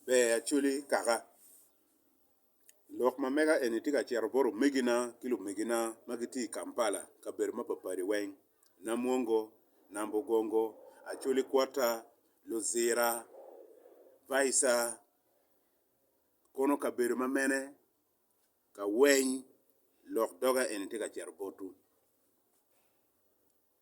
Ber Acholi kaka. I lok ma mega eni atye ka cito bot omegina ki lumegina ma gitye i Kampala kabedo mapatpat weng, Namwongo, Nambogongo, Acholi Kwota, Luzira, Baisa, kono kabedo ma mene ka weny lok doga eni tye ka cito botwu.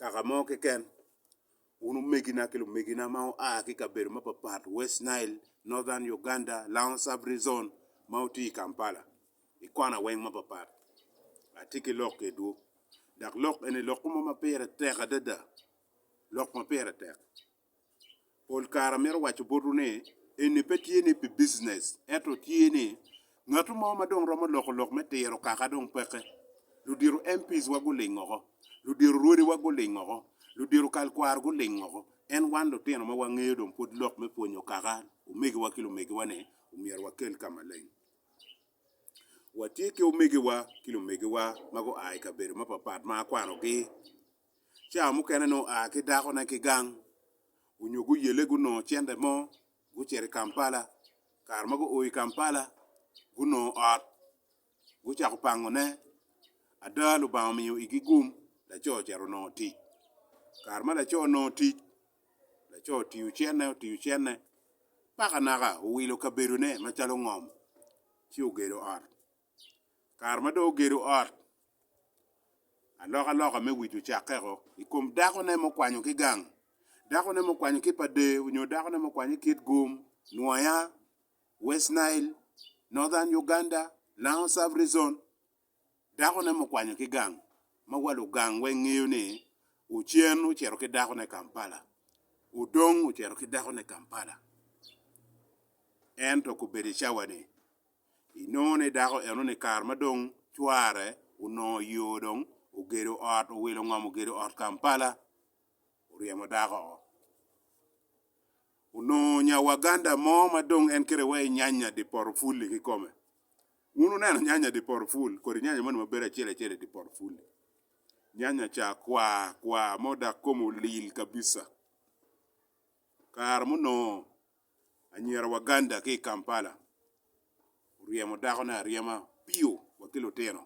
Kaka mo keken, wun omegina ki lumegina ma wua ki i kabedo mapatpat, West Nile, Northern Uganda, Laon Sub-Rezon, ma wutye i Kampala, i kona weng mapatpat, atye ki lok kedwu. Dok lok eni lokwu mo ma pire tek adada, lok ma pire tek. pol kare amito waco botwu ni eni pe tye ni pi business ento tye ni ngatu mo ma dong romo loko lok me tiro kaka dong peke. Ludito MPs wa guling oko, ludito rwodi wa guling oko, ludito kal kwaro guling oko en wan lutino ma wangeyo dong pud lok me pwonyo kaka omegi wa ki lumegi wa ni omyero wakel ka maleng. Watye ki omegi wa ki lumegi wa ma gua i kabedo ma papat ma akwano gi. Cawa mukene nongo oa ki dakone ki gang, onyo guyele gunongo cente mo gucito i Kampala. Kare ma guo i Kampala, gunongo ot gucako pango ne. Ada Lubanga omiyo igi gum, laco ocito onongo tic. Kare ma laco onongo tic, laco otiyo cene, otiyo cene paka naka owilo kabedone macalo ngom ci ogedo ot. kare ma dong ogedo ot, alokaloka me wic ocakke-o i kom dakone mukwanyo ki gang, dakone mukwanyo ki Padee nyo dakone mukwanyo ki Kitgum, Nwoya, West Nile, Northern Uganda, Lango Sub Region, dakone mukwanyo ki gang ma wa lugang weng ngeyo ni Ochen ocito ki dakone Kampala, Odong ocito ki dakone Kampala ento kobedo i cawa-ni. Inongo ni dako eno ni kare ma dong cware onongo yo dong ogedo ot owilo ngom ogedo ot Kampala oryemo dako oo. Onongo nya Waganda mo ma dong en kite wa i nyanya di poto fuli ki kome. Wun wuneno nyanya di poto ful kodi nyanya moni ma bedo acel acel i di poto fuli. Nyanya ca kwa kwa mo dak kome olil kabisa. Kare munongo Anyira Waganda ki i Kampala oryemo dakone aryema piyo wa ki lutino.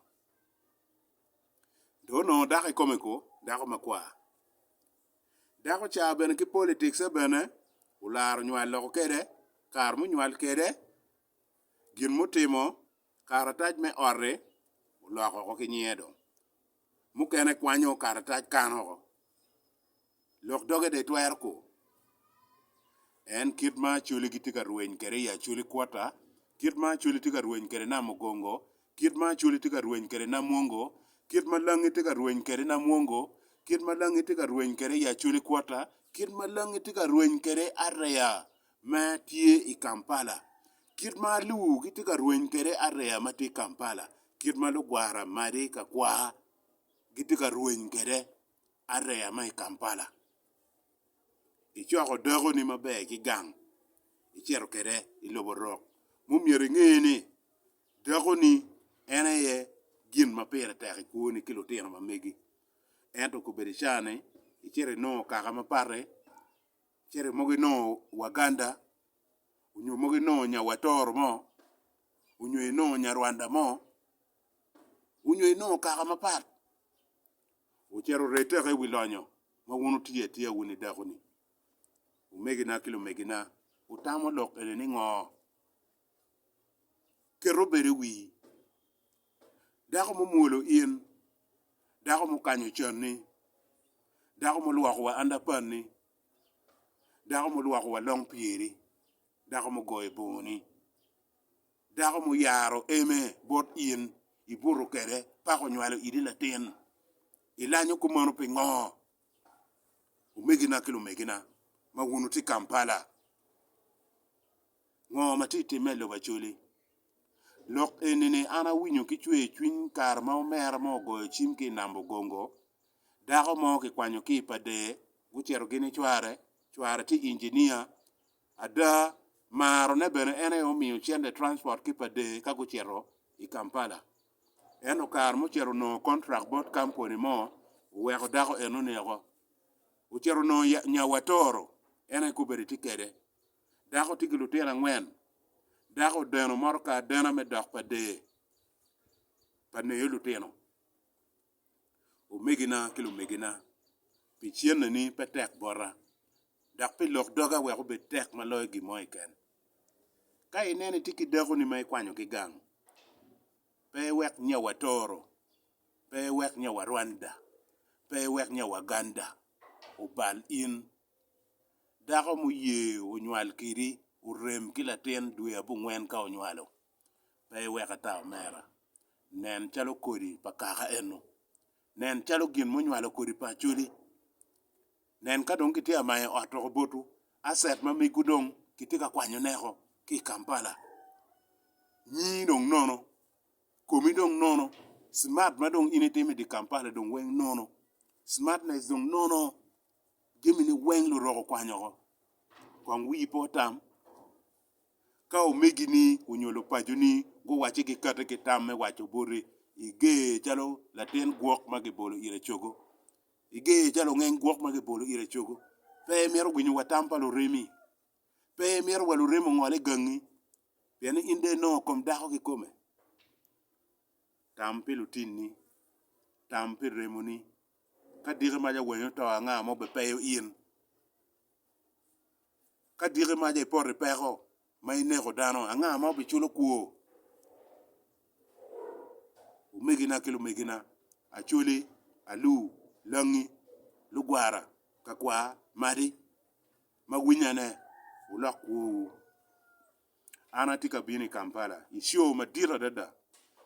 Dong onongo dako i kome ko, dako makwar. Dako ca bene ki politics-ce bene olaro nywal loko kede kare munywal kede, gin mutimo, karatac me ot-ti oloko oko ki nyinge dong. Mukene kwanyo karatac kano oko. Lok doge dong itwero ko. En kit ma Acholi gitye ka rweny kwede i Acholi quarter, kit ma Acholi tye ka rweny kwede i Namugongo, kit ma Acholi tye ka rweny kwede i Namwongo, kit ma Langi tye ka rweny kwede i Namwongo, kit ma Langi tye ka rweny kwede i Acholi quarter, kit ma Langi tye ka rweny kwede i Area ma tye i Kampala, kit ma Luo gitye ka rweny kwede i Area ma tye i Kampala, kit ma lugwara madi ka kwa. gitye ka rweny kwede areya ma i Kampala. Icoko dakoni maber ki gang icito kwede i lobo rok ma omyero inge ni dakoni en aye gin ma pire tek i kwoni ki lutino ma megi. Ento kobedo ica ni icito inongo kaka ma pati, icito mogo inongo Waganda nyo mogo inongo nya Watoro mo nyo inongo nya Rwanda mo. onyo inongo kaka mapat, ocito oret teka i wi lonyo ma wun wutiyo atiya wun i dakoni. Omegina ki lumegina, wutamo lok eni ni ngo? Ket obedo i wii, dako mumwolo in, dako mukanyo canni, dako mulwoko wa underpant-ni, dako mulwoko wa long pyeri, dako mugoyo bongoni. Dako muyaro eme bot in, ibuto kwede, paka onywalo idi latin. Ilanyo kop meno pingo? Omegina ki lumegina ma wun wutye i Kampala, ngo ma tye ka timme i lobo Acholi? Lok eni-ni an awinyo ki cwercwiny kare ma omera mo ogoyo cim ki i Nam Bugongo, dako mo kikwanyo ki i Pader gucito gini cware, cware tye injinia, Ada, maro ne bene en aye omiyo cente transport ki pa dee ka gucito i Kampala. Ento kare ma ocito onongo contract bot kampuni mo oweko dako eno ni oko. Ocito onongo ya, Nyawatoro en aye kubedi tye kede. Dako tye ki lutino angwen. Dako odeno motoka adena me dok pa dee pa neyo lutino. omegina ki lumegina, pi cenne ni pe tek bota, dok pi lok doga wek obed tek ma loyo gin mo keken. Ka ineno itye ki dakoni ma ikwanyo ki gang, pe iwek nya watoro, pe iwek nya warwanda, pe iwek nya waganda obal in. Dako muye onywal kidi orem ki latin dwe abongwen ka onywalo, pe iwek ata omera. Nen calo kodi pa kaka eno. Nen calo gin munywalo kodi pa Acholi. Nen ka dong kitye amayo ot woko botwu, asset ma migwu dong kitye ka kwanyo neko ki i Kampala. Nyii dong nono, komi dong nono, smart ma dong in itimo i di Kampala dong weng nono, smartness dong nono, jamini weng lurok okwanyo oko. Kong wii pe otam, Ka omegini onyo lupaconi guwacci gikati ki tam me waco boti, iger calo latin gwok ma gibolo ira cogo. Iger calo ongeny gwok ma gibolo ira cogo. Pe imito winyo wa tam pa luremi. Pe imito wa luremi ongol i gangi, pien ni in dong inongo kom dako kikome. Tam pi lutinni, tam pi remoni. Ka diki mac awenyo to anga ma obepeyo in? Ka diki maca i poti peko ma ineko dano, anga ma obiculo kwo? Omegina ki lumegina, Acholi, Alu, Langi, Lugwara, Kakwar, Madi, ma winyane, wulok kwowu. An atye ka bino i Kampala i show madit adada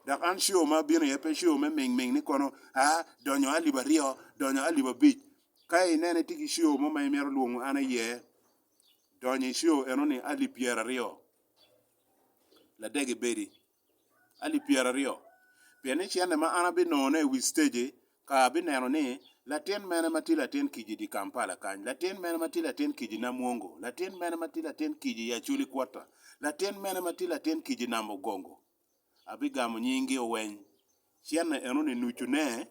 dok an show ma abino iye pe show me ming ming ni kono aa donyo alip aryo, donyo alip abic. Ka ineno itye ki show mo ma imito lwongo an iye, donyo i show enoni alip pyeraryo ladege bedi. alip pyeraryo, pien ni cente ma an abinongone i wi stage ka abineno ni latin mene ma tye latin kica i dye Kampala kany, latin mene ma tye latin kica i Namwongo, latin mene ma tye latin kica i Acholi Kwota, latin mene ma tye latin kica i Nam Ogongo, abigamo nyinggi oweny. Cente enoni nucune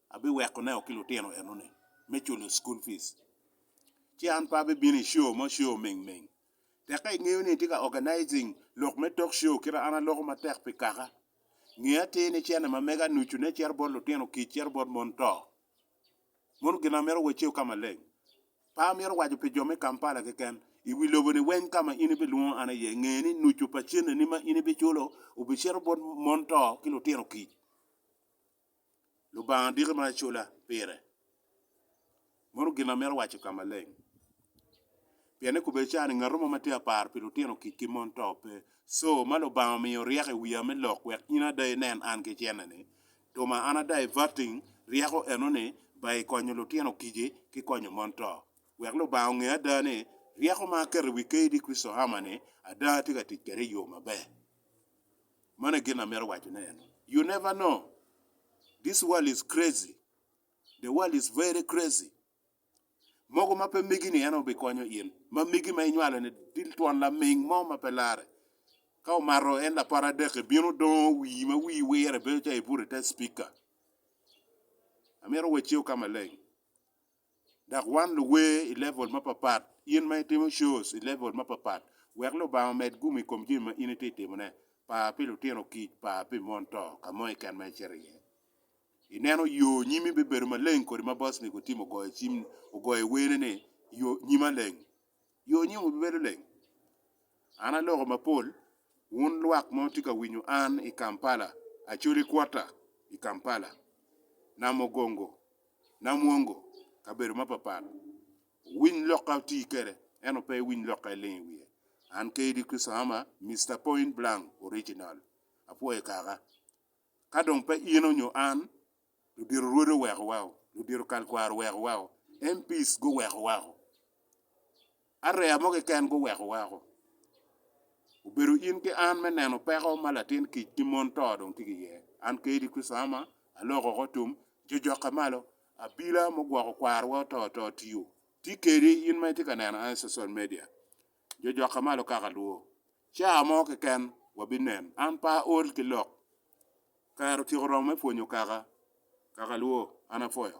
abiwekoneo ki lutino enoni me culo school fees. Ci an pe abibino i show mo, show mingming. Tekke ingeyo ni itye ka organizing lok me talk show kit ma an aloko matek pi kaka. Nge atir ni cene ma mege anucu ne cito bot lutino kic cito bot mon to. Mono gin ma mito waceu ka maleng. Pe amito waco pi jo me Kampala keken. I wi lobo ni weng ka ma in ibilwongo an iye nge ni nucu pa cene ni ma in ibiculo obicito bot mon to ki lutino kic. Lubanga diki ma acola pire. Meno gin amito waco ka maleng. Pien ni kobedi cani ngato mo ma tye ka paro pi lutino kik ki mon to pe. Co ma Lubanga omiyo ryeko i wiya me lok wek in ada inen an ki cene-ni, tuma an ada ivating ryeko eno-ni ba i konyo lutino kiji ki konyo mon to. Wek Lubanga onge ada ni ryeko ma aketo i wi Kayidi Christopher Hammer-ni ada atye ka tic kwede i yo maber. Mano aye gin amito waco ne eno, you never know, this world is crazy, the world is very crazy, mogo ma pe megi ni en obi konyo in, ma megi ma inywalo ni dil twon laming mo ma pe lare, ka omato en lapara adek i bino dongo wii ma wii wire bedo calo ibuto ite speaker, amito wacci oka maleng. Dok wan luwer i level mapapat, in ma itimo shows i level mapapat, wek Lubanga omed gumo i kom jami ma in itye ka timone. Par pi lutino kic, par pi mon to, ka mo keken ma icito iye. Ineno yo nyimi bibedo maleng kodi ma boss ni Gotim ogoyo cim, ogoyo wene ni, Yo nyima leng. Yo nyongo bibedo leng. An aloko mapol, wun lwak ma wutye ka winyo an i Kampala, Acholi Quarter i Kampala, Namugongo, Namwongo, kabedo mapapat, wuwiny lokka wuti kwede, ento pe iwiny lokka iling i wiye. An KD Chrisohama, Mister Point Blank Original. Apwoyo kaka. Ka dong pe in onyo an, ludito rwode oweko wako, ludito kalkwaro oweko wako, MPs guweko wako, area mo keken guweko wako, obedo in ki an me neno peko ma latin kic ki mon to dong tye ki iye. An Kaydi Christama aloko oko tum, jojokke malo, abila mugwoko kwarowa oto to tiyo, tye kedi in ma itye ka neno an i social media. Jo jokka malo kaka lwo. Caa mo keken wabinen. An pe aol ki lok. Kare otyeko romo me pwonyo kaka. Kaka lwo, an apwoyo.